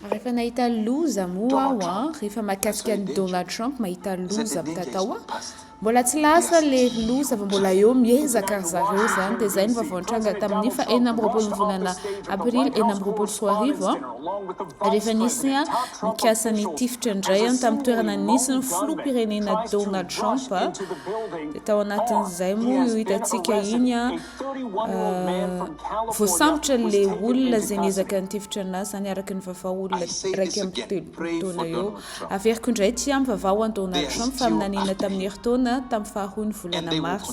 Rehefa nahita loza moa aho an, rehefa mahakasika an'i Donald Trump mahita loza avy tatao an, mbola tsy lasa le loza fa mbola eo miezaka ry zareo zany, de zay ny vaovao nitranga tamin'ny fa enina amby roapolo ny volana aprily enina amby roapolo sy roa arivo an. Rehefa nisy ny nikasa nitifitra indray tamin'ny toerana nisy ny filoham-pirenena Donald Trump dia tao anatin'izay moa io hitantsika iny voasambotra le olona izay niezaka nitifitra anazy izany araka ny vavao olona iraika amby telopolo taona eo. Averiko indray ity amin'ny vavao an'i Donald Trump fa minaniana tamin'ny herintaona tamin'ny faharoan'ny volana marsa.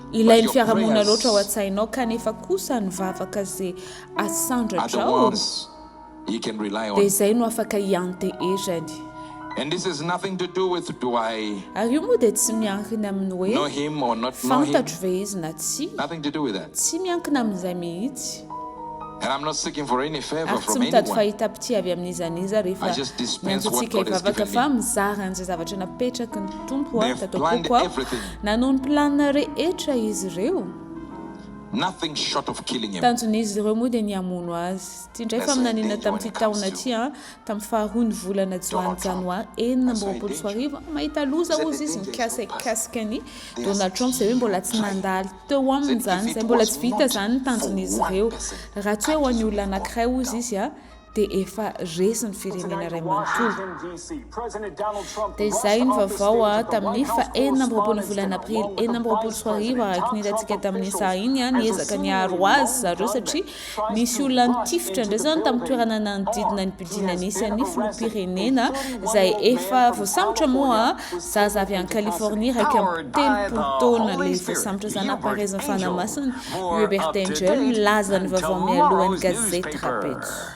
Ilain'ny fiarahamonina loatra ao an-tsainao kanefa kosa ny vavaka ze asandratrao dia izay no afaka ianteherany. Ary io moa dia tsy miankina amin'ny hoe fantatro ve izy na tsia, tsy miankina amin'izay mihitsy. Ary tsy mitady fahitam-pitia avy amin'iza n'iza rehefa miantso antsika hivavaka fa mizara an'izay zavatra napetraky ny. Tompo aho, tatapoako aho, nanohy ny planina rehetra izy ireo. Tanjon'izy ireo moa dia ny hamono azy. Ity indray faminaniana tamin'ity taona ity, tamin'ny faharoa ny volana Joany, Janoary enina amby roapolo sy roa arivo, mahita loza hozy izy mikasikasika an'i Donald Trump, izay hoe mbola tsy nandalo teo aminy izany, izay mbola tsy vita izany ny tanjon'izy ireo, raha tsy hoe ho an'ny olona anankiray hozy izy. dia efa resy ny firenena iray manontolo. Dia izay ny vaovao tamin'ny faha enina amby roapolo ny volana aprily enina amby roapolo sy roa arivo araka ny hitantsika tamin'ny saha iny, niezaka niaro azy zareo satria nisy olona nitifitra indray izany tamin'ny toerana nanodidina ny building nisy an'ny filoham-pirenena izay efa voasambotra moa zaza avy any Californie iraika amby telopolo taona ilay voasambotra izany ampaharezin'ny fanahy masina, Hubert Angel, milaza ny vaovao mialohan'ny gazety Rapejo.